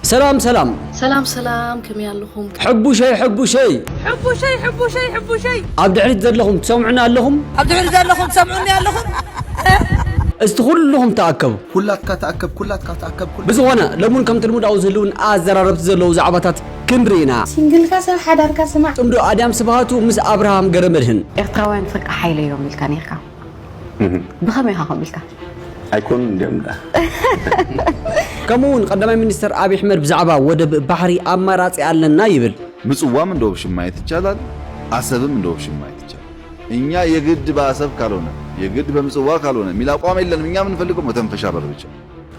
ሰላም ሰላም። ሰላም ሰላም ከመይ ኣለኹም። ሕቡሸይ ሕቡሸይ። ሕቡሸይ ሕቡሸይ ሕቡሸይ። ኣብ ድሕሪት ዘለኹም ትሰምዑኒ ኣለኹም? ኣብ ድሕሪት ዘለኹም ትሰምዑኒ ኣለኹም? እስቲ ኩሉኹም ተኣከቡ። ኩላትካ ተኣከብ ኩላትካ ተኣከብ። ብዝኾነ ሎሙን ከምቲ ልሙድ ኣብኡ ዝህልውን ኣዘራረብቲ ዘለዉ ዛዕባታት ክንሪ ኢና። ሲንግልካ ስለ ሓዳርካ ስማዕ። ጽምዶ ኣድያም ስብሃቱ ምስ ኣብርሃም ገረመድህን። ኤርትራውያን ፍርቂ ሓይለዮም ኢልካ ኔርካ። ብኸመይ ኢኻ ከምኡ ኢልካ? ኣይኮኑን ድዮም ደኣ? ከምኡ'ውን ቀዳማይ ሚኒስተር ኣብይ ኣሕመድ ብዛዕባ ወደብ ባሕሪ ኣማራጺ ኣለና ይብል። ምጽዋም እንደ ኦፕሽን ማየት ይቻላል አሰብም እንደ ኦፕሽን ማየት ይቻላል እኛ የግድ በአሰብ ካልሆነ የግድ በምጽዋ ካልሆነ ሚል አቋም የለንም እኛ ምንፈልገው መተንፈሻ በር ብቻ።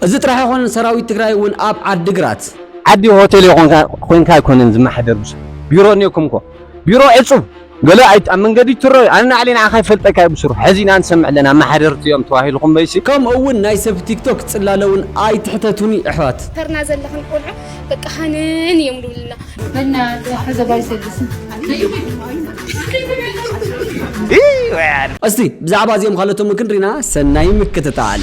እዚ ጥራሕ ኣይኮነን ሰራዊት ትግራይ እውን ኣብ ዓዲግራት ዓዲ ሆቴል ኮንካ ኣይኮነን ዝመሓደር ብዙሕ ቢሮ እኒኦኩም እኮ ቢሮ ዕፁብ ገለ ኣይት ኣብ መንገዲ ትረዩ ኣነ ናዕሊ ንዓካ ይፈልጠካ እየ ብሱሩ ሐዚ ኢና ንሰምዕ ለና ኣማሓደርቲ እዮም ተባሂልኩም በይሲ። ከምኡ እውን ናይ ሰብ ቲክቶክ ጽላለ እውን ኣይትሕተቱኒ ኣሕዋት። ተርና ዘለኽን ቆልዑ በቃ ሃነን እዮም ልብልና። እስቲ ብዛዕባ እዚኦም ኻልኦትን እውን ክንሪና ሰናይ ምክትታል።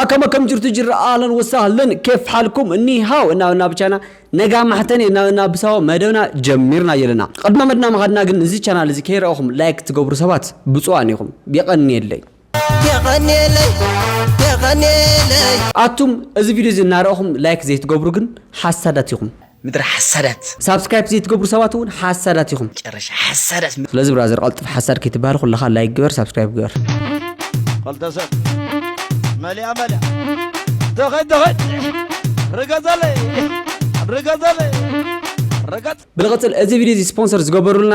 ኣከመ ከም ጅርቱ ጅራ ኣህለን ወሳህለን ኬፍ ሓልኩም እኒ ሃው እና እና ብቻና ነጋ ማሕተን እና እና ብሳዎ መደብና ጀሚርና የለና ቅድመ መድና ምኻድና ግን እዚ ቻናል እዚ ከይረኣኹም ላይክ ትገብሩ ሰባት ብፁዓን ኢኹም የቐንየለይ የቐንየለይ የቐንየለይ ኣቱም እዚ ቪድዮ እዚ እናረኣኹም ላይክ ዘይትገብሩ ግን ሓሳዳት ኢኹም ምድረ ሓሳዳት። ሳብስክራይፕ ዘይትገብሩ ሰባት እውን ሓሳዳት ኢኹም። መጨረሻ ሓሳዳት። ስለዚ ብራዘር ቐልጥፍ ሓሳድ ከይትበሃል ኩልኻ ላይክ ግበር ሳብስክራይብ ግበር። ኸልተ ሰብ መሊኣ መሊኣ ተኸድ ተኸድ ርገዘለይ ርገዘለይ ርገጽ ብልቕጽል እዚ ቪድዮ እዚ ስፖንሰር ዝገበሩልና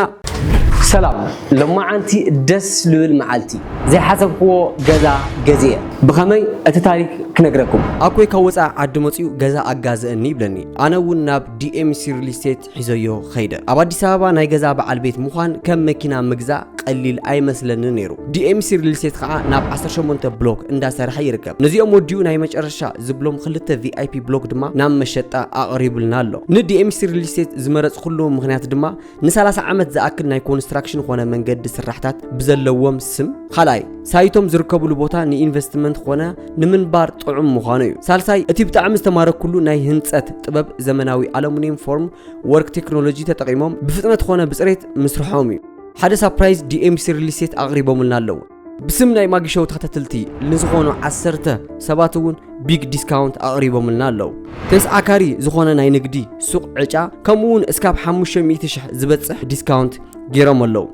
ሰላም ሎማዓንቲ ደስ ልብል መዓልቲ ዘይሓሰብክዎ ገዛ ገዚኤ ብኸመይ እቲ ታሪክ ክነግረኩም። ኣኮይ ካብ ወፃኢ ዓዲ መፂኡ ገዛ ኣጋዘእኒ ይብለኒ ኣነ እውን ናብ ዲኤምሲ ሪል ስቴት ሒዘዮ ኸይደ ኣብ ኣዲስ ኣበባ ናይ ገዛ በዓል ቤት ምዃን ከም መኪና ምግዛእ ቀሊል ኣይመስለንን ነይሩ ዲኤምሲ ሪል ስቴት ከዓ ናብ 18 ብሎክ እንዳሰርሐ ይርከብ ነዚኦም ወዲኡ ናይ መጨረሻ ዝብሎም ክልተ ቪኣይፒ ብሎክ ድማ ናብ መሸጣ ኣቕሪቡልና ኣሎ ንዲኤምሲ ሪል ስቴት ዝመረፅኩሉ ምክንያት ድማ ንሰላሳ ዓመት ዝኣክል ናይ ኮንስትራክሽን ኾነ መንገዲ ስራሕታት ብዘለዎም ስም ካልኣይ ሳይቶም ዝርከብሉ ቦታ ንኢንቨስትመንት ኾነ ንምንባር ጥዑም ምዃኑ እዩ ሳልሳይ እቲ ብጣዕሚ ዝተማረኩሉ ናይ ህንፀት ጥበብ ዘመናዊ ኣሉሚኒየም ፎርም ወርክ ቴክኖሎጂ ተጠቂሞም ብፍጥነት ኾነ ብፅሬት ምስርሖም እዩ ሓደ ሳፕራይዝ ዲኤምሲ ሪል ስቴት ኣቕሪቦምልና ኣለዉ ብስም ናይ ማጊ ሾው ተኸታተልቲ ንዝኾኑ ዓሰርተ ሰባት እውን ቢግ ዲስካውንት ኣቕሪቦምልና ኣለዉ ተስዓካሪ ዝኾነ ናይ ንግዲ ሱቕ ዕጫ ከምኡ እውን እስካብ 500 ሽሕ ዝበፅሕ ዲስካውንት ገይሮም ኣለዉ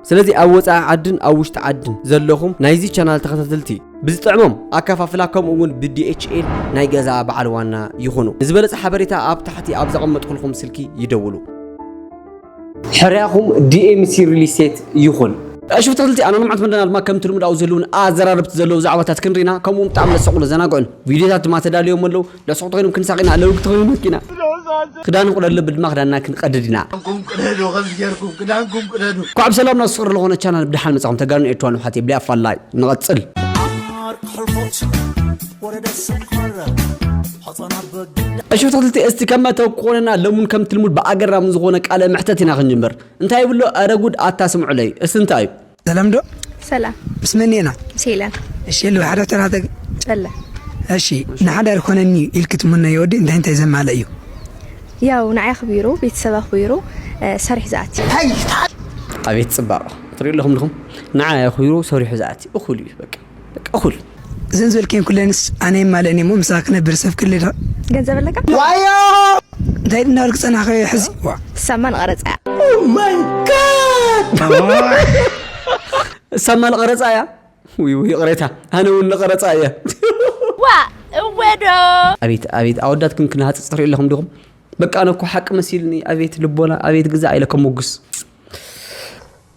ስለዚ ኣብ ወፃኢ ዓድን ኣብ ውሽጢ ዓድን ዘለኹም ናይዚ ቻናል ተኸታተልቲ ብዝጥዕሞም ኣከፋፍላ ከምኡ እውን ብዲኤችኤል ናይ ገዛ በዓል ዋና ይኹኑ ንዝበለፀ ሓበሬታ ኣብ ታሕቲ ኣብ ዘቐመጥኩልኩም ስልኪ ይደውሉ ሕርያኹም ዲኤምሲ ሪል ስቴት ይኹን። እሺ ተኸታተልቲ ኣነ ልምዓት መደና ድማ ከምቲ ልሙድ ኣብኡ ዘለዉን ኣዘራረብቲ ዘለዉ ዛዕባታት ክንሪና ከምኡ እውን ብጣዕሚ ለሰቑን ለዘናግዑን ቪድዮታት ድማ ተዳልዮም ኣለዉ ለሰቑቲ ኮይኖም ክንሳቕ ኢና ለውግቲ ኮይኖም ነስቂ ኢና ክዳን ንቑደድ ልቢ ድማ ክዳንና ክንቐድድ ኢና ኳዕ ብሰላም ናብ ስቕሪ ዝኾነ ቻናል ብድሓን መጻኹም ተጋኑ ኤርትራን ውሓት የብሊ ኣፋላይ ንቐጽል እሺ ብትክልቲ እስቲ ከመ ተኮነና ለሙን ከም ትልሙድ ብኣገራም ዝኾነ ቃለ መሕተት ኢና ክንጅምር እንታይ ይብሎ ኧረ ጉድ ኣታ ስምዑለይ እስቲ እንታይ እዩ ሰላም ዶ ሰላም ምስ መን ኔና ምስ ሄለን እሺ ሉ ሓደ ተናተ ጨለ እሺ ንሓዳር ኮነኒ ኢልክ ትምነ የወዲ እንታይ እንታይ ዘማለ እዩ ያው ንዓይ ኣኽቢሩ ቤተሰብ ኣኽቢሩ ሰሪሕ ዝኣቲ ኣቤት ፅባቕ ትሪኡ ኣለኹም ድኹም ንዓይ ኣኽቢሩ ሰሪሑ ዝኣቲ እኹል እዩ በቃ በቃ ኩል እዘን ዝበልክየን ኩለንስ ኣነ የማልእን እየ እሞ ምሳኺ ክነብር ሰብ ክህሊ ዶ ገንዘብ ኣለካ እንታይ ኢሉ እናበልክ ጸናሕካዮ ሕዚ ዋእ ሳማ ንቀረጻ እያ ሳማ ንቀረጻ እያ ውይ ውይ ይቕሬታ ኣነ እውን ንቀረጻ እየ ዋእ እወ ዶ ኣቤት ኣቤት ኣወዳትኩም ክነሃጽጽ ትሪኡ ኣለኹም ዲኹም በቃ ኣነ እኮ ሓቂ መሲልኒ ኣቤት ልቦና ኣቤት ግዛ ኢለ ከሞግስ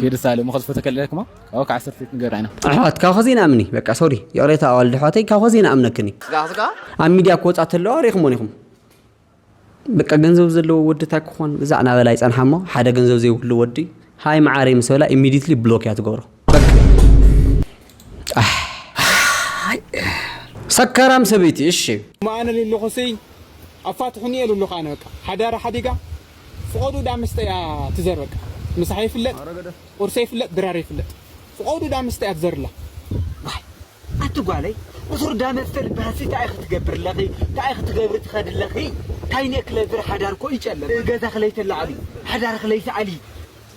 ጌርሳለ እሞ ከዝፈቶ ከለክ እሞ ካብኡ ከዓ ሰርቲት ንገራ ኢና ኣሕዋት ካብ ከዚ ንኣምኒ በቃ ሶሪ ይቕሬታ ኣዋልድ ኣሕዋተይ ካብ ከዚ ንኣምነክን እዩ ስጋ ስጋ ኣብ ሚድያ ክወፃ ተለዋ ሪኢኹሞን ኢኹም በቃ ገንዘብ ዘለዎ ወዲ እንታይ ክኾን እዛ ዕናበላ ይፀንሓ እሞ ሓደ ገንዘብ ዘይብሉ ወዲ ሃይ መዓረይ ምስ በላ ኢሚዲትሊ ብሎክ እያ ትገብሮ ሰከራም ሰበይቲ እሺ ማኣነ ሉሉኹስይ ኣፋትሑኒ እየ ሉሉኽ ኣነ በቃ ሓዳራ ሓዲጋ ፍቆዱ እዳ ምስተ እያ ትዘር በቃ ምሳሕ ይፍለጥ ቁርሰ ይፍለጥ ድራር ይፍለጥ ፍቆዱ እዳ ምስተ እያ ትዘር እላ። ዋይ ኣቲ ጓለይ ቁሱር እዳ መስተ ልባሃሲ ታይ ኢኪ ትገብር ለኪ ታይ ኢኪ ትገብሪ ትከዲ ለኪ ታይ ኔክለ ዝር ሓዳር እኮ እዩ ጨለም ገዛኪ ለይተላዕሊ ሓዳርኪ ለይትኣሊ።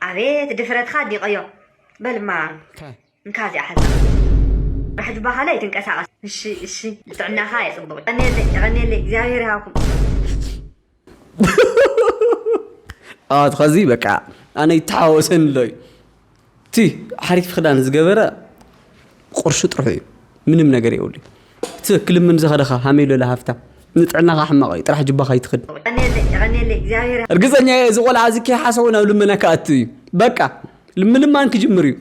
ኣቤት ድፍረትካ ዲቀዮ በልማ እንካ እዚኣ ሓዝካ ራሕ ጅባኻ ላይ ትንቀሳቀስ እሺ እሺ ልጥዕናኻ የፅብቅ የቀንየለይ የቀንየለይ እግዚኣብሔር ይሃብኩም ኣዋት ኸዚ በቃ ኣነ ይተሓወሰኒ ኣሎ እዩ እቲ ሓሪፍ ክዳን ዝገበረ ቁርሹ ጥርሑ እዩ ምንም ነገር የብሉ እቲ ክልምን ዝኸደ ከ ሃመይ ሎለ ሃፍታ ንጥዕናኻ ሕማቕ እዩ ጥራሕ ጅባ ከይትኽድ እርግፀኛ እየ እዚ ቆልዓ እዚ ከይሓሰቦ ናብ ልመና ክኣቱ እዩ በቃ ምልማን ክጅምር እዩ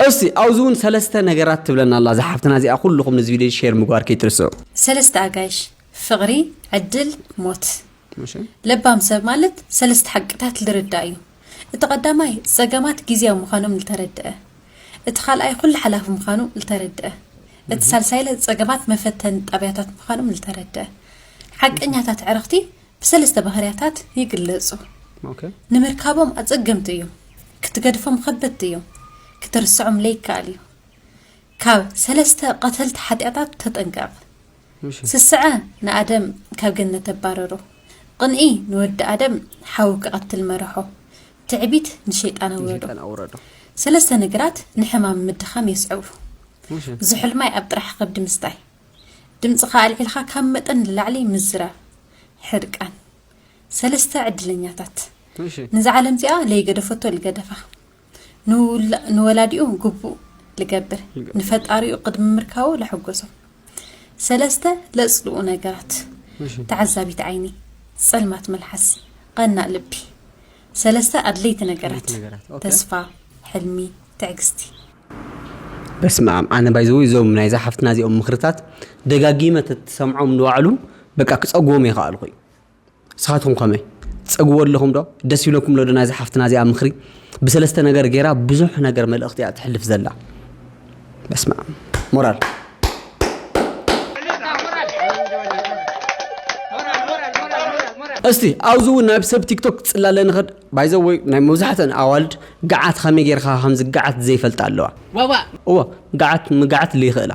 እስቲ ኣብዚ እውን ሰለስተ ነገራት ትብለና ኣላ ዝሓፍትና እዚኣ ኩልኹም ነዚ ቪድዮ ሼር ምግባር ከይትርስዑ ሰለስተ ኣጋይሽ ፍቕሪ ዕድል ሞት ለባም ሰብ ማለት ሰለስተ ሓቅታት ልርዳእ እዩ እቲ ቀዳማይ ጸገማት ግዝያዊ ምዃኖም ልተረድኣ። እቲ ካልኣይ ኩሉ ሓላፊ ምዃኑ ልተረድኣ። እቲ ሳልሳይለ ጸገማት መፈተኒ ጣብያታት ምዃኖም ልተረድኣ። ሓቀኛታት ዕረኽቲ ብሰለስተ ባህርያታት ይግለጹ። ንምርካቦም ኣጸገምቲ እዮም። ክትገድፎም ኸበድቲ እዮም። ክትርስዖም ለይከኣል እዩ። ካብ ሰለስተ ቀተልቲ ሓጢኣታት ተጠንቀቕ። ስስዐ ንኣደም ካብ ገነት ኣባረሮ። ቕንኢ ንወዲ ኣደም ሓዊ ክቐትል መረሖ። ትዕቢት ንሸይጣን ኣውረዶ። ሰለስተ ነገራት ንሕማም ምድኻም የስዕቡ። ዝሑል ማይ ኣብ ጥራሕ ኸብዲ ምስታይ። ድምፅኻ ኣልዒልኻ ካብ መጠን ንላዕሊ ምዝራብ። ሕርቃን። ሰለስተ ዕድለኛታት። ንዛ ዓለም እዚኣ ለይገደፈቶ ልገደፋ። ንወላዲኡ ግቡእ ልገብር፣ ንፈጣሪኡ ቅድሚ ምርካቡ ለሐጎሶ። ሰለስተ ለጽልኡ ነገራት፣ ተዓዛቢት ዓይኒ፣ ጸልማት መልሓስ፣ ቐናእ ልቢ። ሰለስተ ኣድለይቲ ነገራት፣ ተስፋ፣ ሕልሚ፣ ትዕግስቲ። በስመኣም ኣነ ባይ ዘወይ እዞም ናይዛ ሓፍትና እዚኦም ምክርታት ደጋጊመ ተትሰምዖም ንባዕሉ በቃ ክጸግቦም የኸኣልኩ እዩ ንስኻትኩም ከመይ ትጸግዎ ኣለኹም ዶ ደስ ይብለኩም ሎዶ ናይዛ ሓፍትና እዚኣ ምኽሪ ብሰለስተ ነገር ገይራ ብዙሕ ነገር መልእኽቲ እያ ትሕልፍ ዘላ በስመ ኣብ ሞራል እስቲ ኣብዚ እውን ናብ ሰብ ቲክቶክ ፅላለ ንኸድ ባይዘ ወይ ናይ መብዛሕተን ኣዋልድ ገዓት ከመይ ጌርካ ከም ዝገዓት ዘይፈልጣ ኣለዋ እዋ ገዓት ምግዓት ዘይኽእላ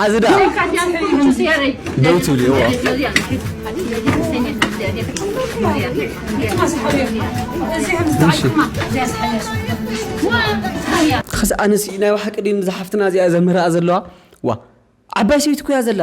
ሓዚ ደኣ ደው ትብሊ እዋ ኸስ ኣነስ ናይ ባሓቂ ድዩ ንዛ ሓፍትና እዚኣ ዘምህርኣ ዘለዋ ዋ ዓባይ ሰበይቲ ኩያ ዘላ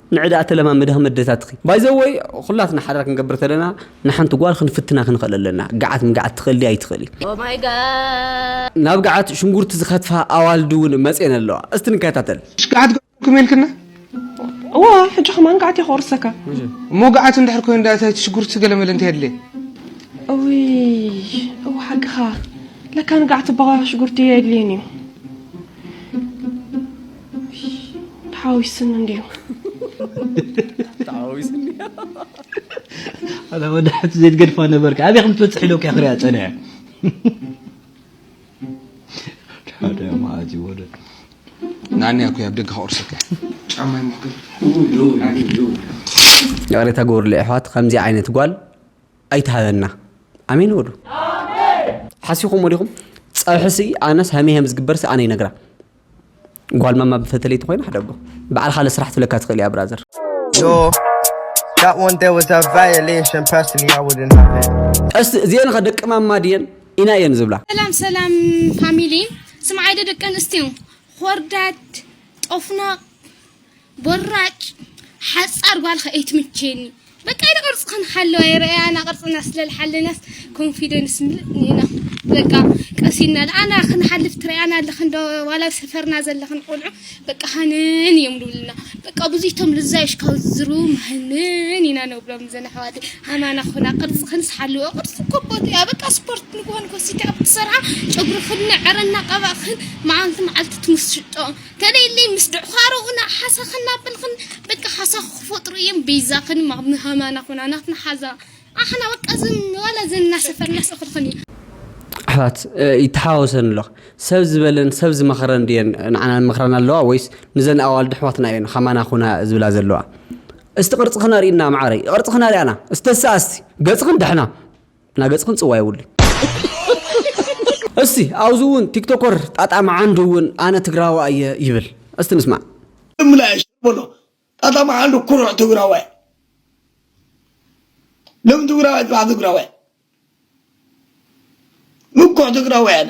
ንዕዳኣ ተለማመዲ ከም ኣደታትኺ ባይ ዘ ወይ ኩላትና ሓዳር ክንገብር ተለና ንሓንቲ ጓል ክንፍትና ክንኽእል ኣለና ግዓት ምግዓት ትኽእል ድያ ኣይትኽእል ኦህ ማይ ጋድ። ናብ ግዓት ሽንጉርቲ ዝከትፋ ኣዋልድ ውን መጼን ኣለዋ እስቲ ንከታተል። እሽ ግዓት ገበርኩም ኢልክና እወ ሕጂ ከማን ግዓት እየ ክቁርሰካ። እሞ ግዓት እንድሕር ኮይኑ ድኣ እቲ ሽጉርቲ ገለ መለ እንታይ የድልየ። እውይ እወ ሓቅኻ ለካ ንግዓት እባ ሽጉርቲ ኣየድልዮን እዩ። ተሓዊስኒ እንድዩ ተሓዊስኒ ኣላ ወዳሕቲ ዘይትገድፋ ነበርካ ኣበይ ከም ትበፅሕ ኢለ ክያ ክሪኣ ፀኒዐ ሓደ ማእዚ ወደ ናንያ ኩ ኣብ ደገ ከቑርሰካ ጫማይ ምክር ይቕሬታ ግበሩለይ ኣሕዋት ከምዚ ዓይነት ጓል ኣይትሃበና ኣሜን በሉ ሓሲኹም ወዲኹም ፀብሕሲ ኣነስ ሃመይ ሃም ዝግበርሲ ኣነ ይነግራ ጓል ማማ ብፈተለይቲ ኮይና ሓደ ኣቦ በዓል ካልእ ስራሕ ትብለካ ትኽእል እያ ብራዘር ቀስ እዚአን ኸ ደቂ ማማ ድየን ኢና እየን ዝብላ ሰላም ሰላም ፋሚሊ ስምዓይ ዶ ደቂ ኣንስትዮ ኾርዳድ ጦፍናቕ ቦራጭ ሓጻር ጓል ከ ኣይትምችየኒ በቃ ኢለ ቅርጺ ክንሓለዋ የረኣያና ቅርጽና ስለልሓለናስ ኮንፊደንስ ምልእ ኢና በቃ ቀስ ኢልና ኣና ክንሓልፍ ትረኣያና ኣለኽን ዶ ዋላ ሰፈርና ዘለኽን ቆልዑ በቃ ሃንን እዮም ዝብሉና በቃ ብዙይቶም ልዛዮሽ ካብ ዝዝርቡ ሃንን ኢና ንብሎም ዘን ኣሕዋተይ ሃማና ኮና ቅርጺ ክንስሓልዎ ቅርጺ ኮቦት እያ በቃ ስፖርት ንግሆን ኮሲካ ክትሰርዓ ጨጉርኽን ዕረ እናቀባእኽን መዓልቲ መዓልቲ ትምስጦ ተለይለይ ምስ ድዕዃሮኡና ሓሳኽ እናበልኽን በቃ ሓሳኹ ክፈጥሩ እዬም በይዛኽን ማምህማና ኹና ናትና ሓዛ ኣሕና በቃ ዝም ዋላ ዘን እናሰፈርና ሰኽርኽን እዬ። ኣሕዋት ይተሓዋወሰን ኣሎ ሰብ ዝበለን ሰብ ዝመኸረን ድየን ንዓና ይመኽራና ኣለዋ ወይስ ንዘን ኣዋልድ ኣሕዋትና እየን ኻማና ኹና ዝብላ ዘለዋ እስቲ ቅርጽኽን ኣርእይና መዓረይ ቅርጽኽን ኣርእያና እስቲ ተሰኣስቲ ገጽኽን ዳሕና እና ገጽክን ጽዋ የውልኝ። እስቲ ኣብዚ እውን ቲክቶኮር ጣጣ መዓንዱ እውን ኣነ ትግራዋ እየ ይብል እስቲ ንስማዕ። እምላሽ ብሎ ጣጣ መዓንዱ ኩሩዕ ትግራዋይ ሎም ትግራዋይ ጽባሕ ትግራዋይ ምኩዕ ትግራዋይ ኣነ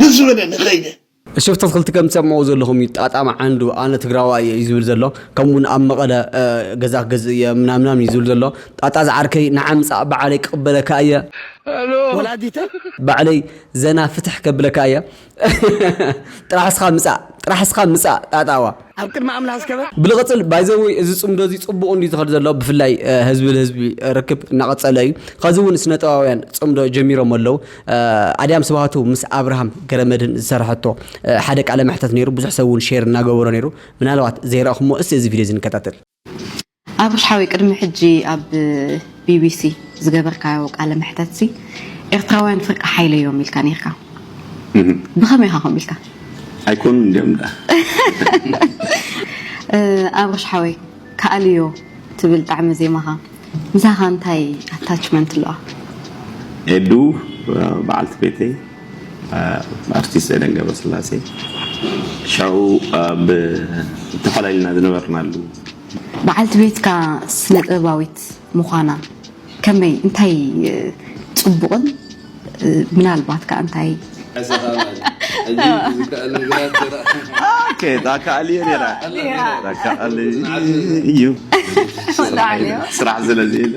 ደስ ዝበለ ንኸይደ። እሸፍተት ክልቲ ከምቲ ኣብ መቀለ ዘለኹም እዩ ጣጣም ዓንዱ ኣነ ትግራዋይ እየ እዩ ዝብል ዘሎ ከምኡ ውን ኣብ መቀለ ገዛ ክገዝእ እየ ምናምናም እዩ ዝብል ዘሎ ጣጣ ዝዓርከይ ንዓ ምጻእ ብዓለይ ክቅበለካ እየ ወላዲተይ ባዕለይ ዘና ፍትሕ ከብለካ እየ ጥራሕ እስኻ ምጻእ ጥራሕ እስኻ ምጻእ ጣጣዋ። ኣብ ቅድሚ ኣምላኽ ዝከበ። ብልቕጽል ባይ ዘ ወይ እዚ ጽምዶ እዚ ጽቡቕ እንድዩ ዝኸድ ዘሎ ብፍላይ ህዝቢ ልህዝቢ ርክብ እናቐጸለ እዩ ኸዚ እውን ስነጥበባውያን ጽምዶ ጀሚሮም ኣለው ኣድያም ስብሃቱ ምስ ኣብርሃም ገረመድህን ዝሰርሐቶ ሓደ ቃለ መሕተት ነይሩ ብዙሕ ሰብ እውን ሼር እናገበሮ ነይሩ ምናልባት ዘይረእኹሞ እስቲ እዚ ቪድዮ እዚ ንከታተል ኣብርሽ ሓወይ ቅድሚ ሕጂ ኣብ ቢቢሲ ዝገበርካዮ ቃለ መሕተትሲ ኤርትራውያን ፍርቂ ሓይሊ እዮም ኢልካ ኔርካ ብኸመይ ኢኻ ከምኡ ኢልካ? ኣይኮኑን ድዮም ደኣ። ኣብርሽ ሓወይ ከኣልዮ ትብል ጣዕሚ ዜማኻ ምሳኻ እንታይ ኣታችመንት ኣለዋ? ኤዱ በዓልቲ ቤተይ ኣርቲስት ኤደን ገብረስላሴ ሻኡ ኣብ ተፈላሊና ዝነበርናሉ በዓልቲ ቤትካ ስነጥበባዊት ምዃና ከመይ እንታይ ጽቡቕን ምናልባት ከኣ እንታይ ስራሕ ስለዘየለ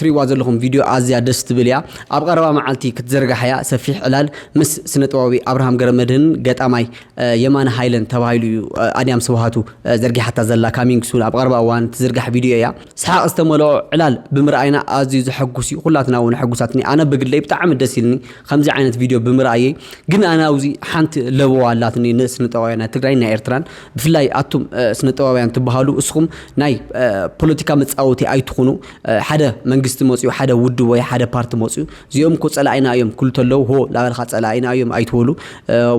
ትሪእዋ ዘለኹም ቪድዮ ኣዝያ ደስ ትብል እያ። ኣብ ቐረባ መዓልቲ ክትዝርጋሕ እያ። ሰፊሕ ዕላል ምስ ስነጥበባዊ ኣብርሃም ገረመድህንን ገጣማይ የማነ ሃይለን ተባሂሉ እዩ ኣድያም ስብሃቱ ዘርጊሓታ ዘላ ካሚንግ ሱን ኣብ ቐረባ እዋን ትዝርጋሕ ቪድዮ እያ። ሰሓቕ ዝተመልኦ ዕላል ብምርኣይና ኣዝዩ ዘሐጉስ እዩ። ኩላትና እውን ሕጉሳትኒ ኣነ ብግለይ ብጣዕሚ ደስ ኢልኒ ከምዚ ዓይነት ቪድዮ ብምርኣየይ ግን ኣነ ኣብዚ ሓንቲ ለበዋ ኣላትኒ ንስነጥበባውያን ትግራይን ናይ ኤርትራን ብፍላይ ኣቱም ስነጥበባውያን ትብሃሉ እስኹም ናይ ፖለቲካ መጻወቲ ኣይትኹኑ ሓደ መንግስቲ መጽዩ ሓደ ውድብ ወይ ሓደ ፓርቲ መጽዩ እዚኦም እኮ ጸላኢና እዮም ክሉ ተለው ሆ ላበልካ ጸላኢና እዮም ኣይትበሉ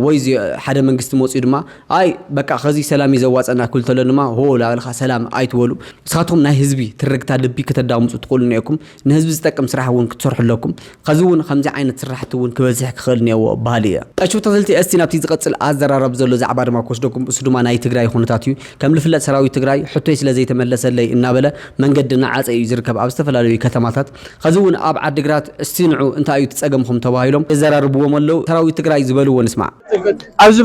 ወይ ሓደ መንግስቲ መጽዩ ድማ ኣይ በቃ ከዚ ሰላም እዩ ዘዋጸና ክሉ ተሎ ድማ ሆ ላበልካ ሰላም ኣይትበሉ ንስኻትኩም ናይ ህዝቢ ትርግታ ልቢ ከተዳምጹ ትኽእሉ ነኩም ንህዝቢ ዝጠቅም ስራሕ እውን ክትሰርሑ ኣለኩም ኸዚ እውን ኸምዚ ዓይነት ስራሕቲ እውን ክበዝሕ ክኽእል እኔዎ በሃሊ እየ። ቀሺ ተኽልቲ እስቲ ናብቲ ዝቐጽል ኣዘራራብ ዘሎ ዛዕባ ድማ ክወስደኩም እሱ ድማ ናይ ትግራይ ኹነታት እዩ። ከም ልፍለጥ ሰራዊት ትግራይ ሕቶይ ስለ ዘይተመለሰለይ እናበለ መንገዲ እናዓጸ እዩ ዝርከብ ኣብ ዝተፈላለዩ ከተማታት ኸዚ እውን ኣብ ዓዲግራት እስቲ ንዑ እንታይ እዩ እቲ ጸገምኹም ተባሂሎም የዘራርብዎም ኣለዉ ሰራዊት ትግራይ ዝበልዎ ንስማዕ። ኣብዚ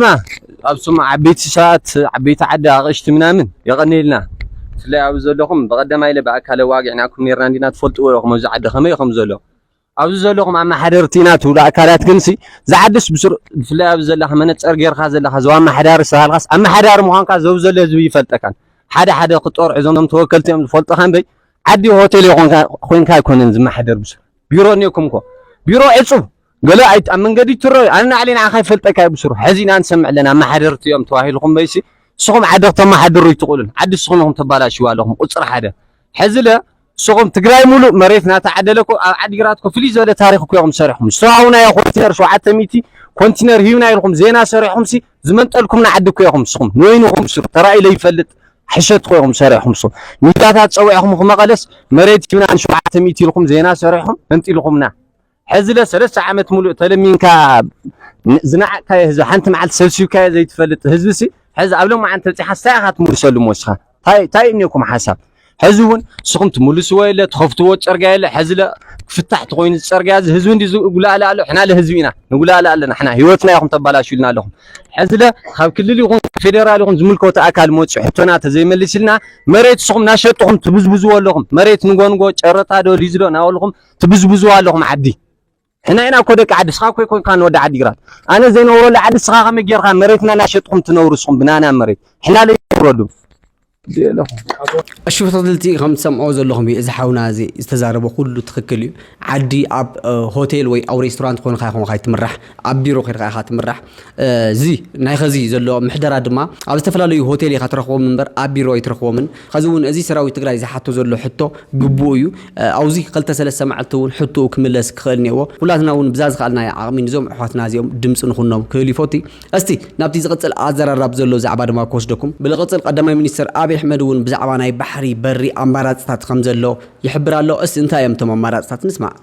ኣብ ስሙ ዓበይቲ ሰባት ዓበይቲ ዓዲ ኣቅሽቲ ምናምን የቀንየልና ብፍላይ ኣብዚ ዘለኹም በቀደማይ ኢለ ብኣካለ ዋጊዕናኩም ኔርና እንዲና ትፈልጥዎ ኢኹም ኣብዚ ዓዲ ከመይ ከም ዘሎ ኣብዚ ዘለኹም ኣመሓደርቲ ኢና ትብሉ ኣካላት ግንሲ ዝዓድስ ብስሩ ብፍላይ ኣብዚ ዘለኻ መነፀር ጌርካ ዘለኻ ዞባ ኣመሓዳሪ ዝተባሃልካስ ኣመሓዳሪ ምዃንካ ዘብ ዘሎ ህዝቢ ይፈልጠካን ሓደ ሓደ ክጠርዑ እዞም ተወከልቲ እዮም ዝፈልጡካ እምበይ ዓዲ ሆቴል ኮይንካ ኣይኮነን ዝመሓደር ብስሩ ቢሮ እኒኦኩም እኮ ቢሮ ዕፁብ ገለ ኣይ ኣብ መንገዲ ትረኣዩ ኣነ ንዓለይ ንዓኻ ይፈልጠካ ብስሩ ሕዚ ኢና ንሰምዕ ኣለና ኣመሓደርቲ እዮም ተባሂልኩም በይሲ ንስኹም ዓዲ ክተመሓድሩ ኣይትኽእሉን ዓዲ ንስኹም ኢኹም ተባላሽዋ ኣለኹም ቁፅሪ ሓደ ሕዚ ለ ንስኹም ትግራይ ሙሉእ መሬት ናተዓደለ እኮ ኣብ ዓዲግራት እኮ ፍልይ ዝበለ ታሪክ እኮ ኢኹም ሰሪሕኩም ዝተዋሃቡና ዮ ኮንቲነር ሸውዓተ ሚእቲ ኮንቲነር ሂብና ኢልኩም ዜና ሰሪሕኩም ሲ ዝመንጠልኩምና ዓዲ እኮ ኢኹም ንስኹም ንወይንኹም ስሩ ተራእዩ ለይፈልጥ ሕሸት እኮ ኢኹም ሰሪሕኩም ንስኹም ሚድያታት ፀዊዕኹም ክመቐለስ መሬት ሂብና ንሸውዓተ ሚእቲ ኢልኩም ዜና ሰሪሕኩም መንጢልኩምና ሕዚለ ሰለስተ ዓመት ሙሉእ ተለሚንካ ዝነዓቅካዮ ህዝቢ ሓንቲ መዓልቲ ሰልሲብካዮ ዘይትፈልጥ ህዝቢሲ ሕዚ ኣብ ሎማዓንቲ በፂሓስ እንታይ ኢኻ ትምልሰሉ ሞስኻ ታይ ታይ እኒኩም ሓሳብ ሕዚ እውን ንስኹም ትምልስዎ የለ ትኸፍትዎ ፅርግያ የለ ሕዚ ለ ክፍታሕ ተኮይኑ ዝፀርግያ እዚ ህዝቢ እንዲ ዝጉላእለ ኣሎ ሕና ለ ህዝቢ ኢና ንጉላእለ ኣለና ሕና ህይወትና ኢኹም ተባላሽልና ኣለኹም ሕዚ ለ ካብ ክልል ይኹን ፌደራል ይኹን ዝምልከቱ ኣካል መፂ ሕቶና ተዘይመሊስልና መሬት ንስኹም እናሸጥኹም ትብዝብዝዎ ኣለኹም መሬት ንጎንጎ ጨረታ ዶ ሊዝ ዶ እናበልኹም ትብዝብዙዋ ኣለኹም ዓዲ ሕና ኢና እኮ ደቂ ዓዲ ስኻ እኮ ኮንካ ንወዲ ዓዲ ግራት ኣነ ዘይነብረሉ ዓዲ ስኻ ከመይ ጌርካ መሬትና ናሸጥኹም ትነብሩ ስኹም ብናና መሬት ሕና ዘይነብረሉ ኣሽፍተልቲ ከም ትሰምዖ ዘለኹም እዩ እዚ ሓውና እዚ ዝተዛረበ ኩሉ ትክክል እዩ ዓዲ ኣብ ሆቴል ወይ ኣብ ሬስቶራንት ኮንካ ይኹንካ ይትምራሕ ኣብ ቢሮ ኬድካ ኢኻ ትምራሕ። እዚ ናይ ኸዚ ዘሎ ምሕደራ ድማ ኣብ ዝተፈላለዩ ሆቴል ኢኻ ትረኽቦም እምበር ኣብ ቢሮ ኣይትረኽቦምን። ኸዚ እውን እዚ ሰራዊት ትግራይ ዝሓቶ ዘሎ ሕቶ ግቡኡ እዩ። ኣውዚ ኸልተ ሰለስተ መዓልቲ እውን ሕቶኡ ክምለስ ክኽእል እኔዎ። ኩላትና እውን ብዛ ዝኸኣልናዮ ዓቕሚ ንዞም ኣሕዋትና እዚኦም ድምፂ ንኹኖም ክብል ይፎቲ። እስቲ ናብቲ ዝቕፅል ኣዘራራብ ዘሎ ዛዕባ ድማ ክወስደኩም። ብልቕፅል ቐዳማይ ሚኒስትር ኣብይ ኣሕመድ እውን ብዛዕባ ናይ ባሕሪ በሪ ኣማራፅታት ኸም ዘሎ ይሕብር ኣሎ። እስቲ እንታይ እዮም እቶም ኣማራፅታት ንስማዕ።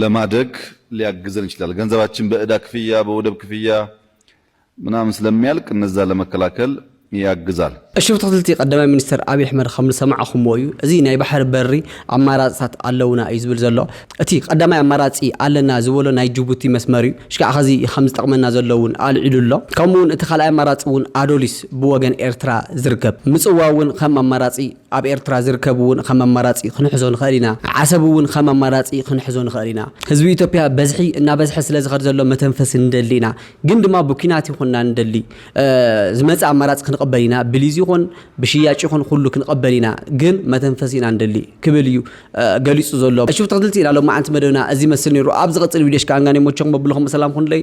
ለማደግ ሊያግዘን ይችላል። ገንዘባችን በእዳ ክፍያ በወደብ ክፍያ ምናምን ስለሚያልቅ እነዛ ለመከላከል ያግዛል። እሺ ብትክልቲ ቀዳማይ ሚኒስትር ኣብይ ኣሕመድ ከምዝሰማዕኹምዎ እዩ እዚ ናይ ባሕሪ በሪ ኣማራፅታት ኣለውና እዩ ዝብል ዘሎ እቲ ቀዳማይ ኣማራፂ ኣለና ዝበሎ ናይ ጅቡቲ መስመር እዩ ሽካዕ ኸዚ ከምዝጠቅመና ዘሎ እውን ኣልዒሉ ኣሎ ከምኡ እውን እቲ ካልኣይ ኣማራፂ እውን ኣዶሊስ ብወገን ኤርትራ ዝርከብ ምፅዋው እውን ከም ኣማራፂ ኣብ ኤርትራ ዝርከብ እውን ኸም ኣማራጺ ክንሕዞ ንኸእል ኢና። ዓሰብ እውን ኸም ኣማራጺ ክንሕዞ ንኸእል ኢና። ህዝቢ ኢትዮጵያ በዝሒ እናበዝሐ ስለ ዝኸድ ዘሎ መተንፈሲ ንደሊ ኢና። ግን ድማ ብኲናት ይኹንና ንደሊ ዝመጽእ ኣማራጺ ክንቕበል ኢና። ብሊዝ ይኹን ብሽያጭ ይኹን ኹሉ ክንቕበል ኢና። ግን መተንፈሲ ኢና ንደሊ ክብል እዩ ገሊጹ ዘሎ። እሺ ተኸትልቲ ኢና ሎማዓንቲ መደብና እዚ ይመስል ነይሩ። ኣብ ዝቐጽል ቪድዮሽ ከኣ እንጋኔ ሞቸኹም ኣቡልኹም ሰላም ኹኑለይ።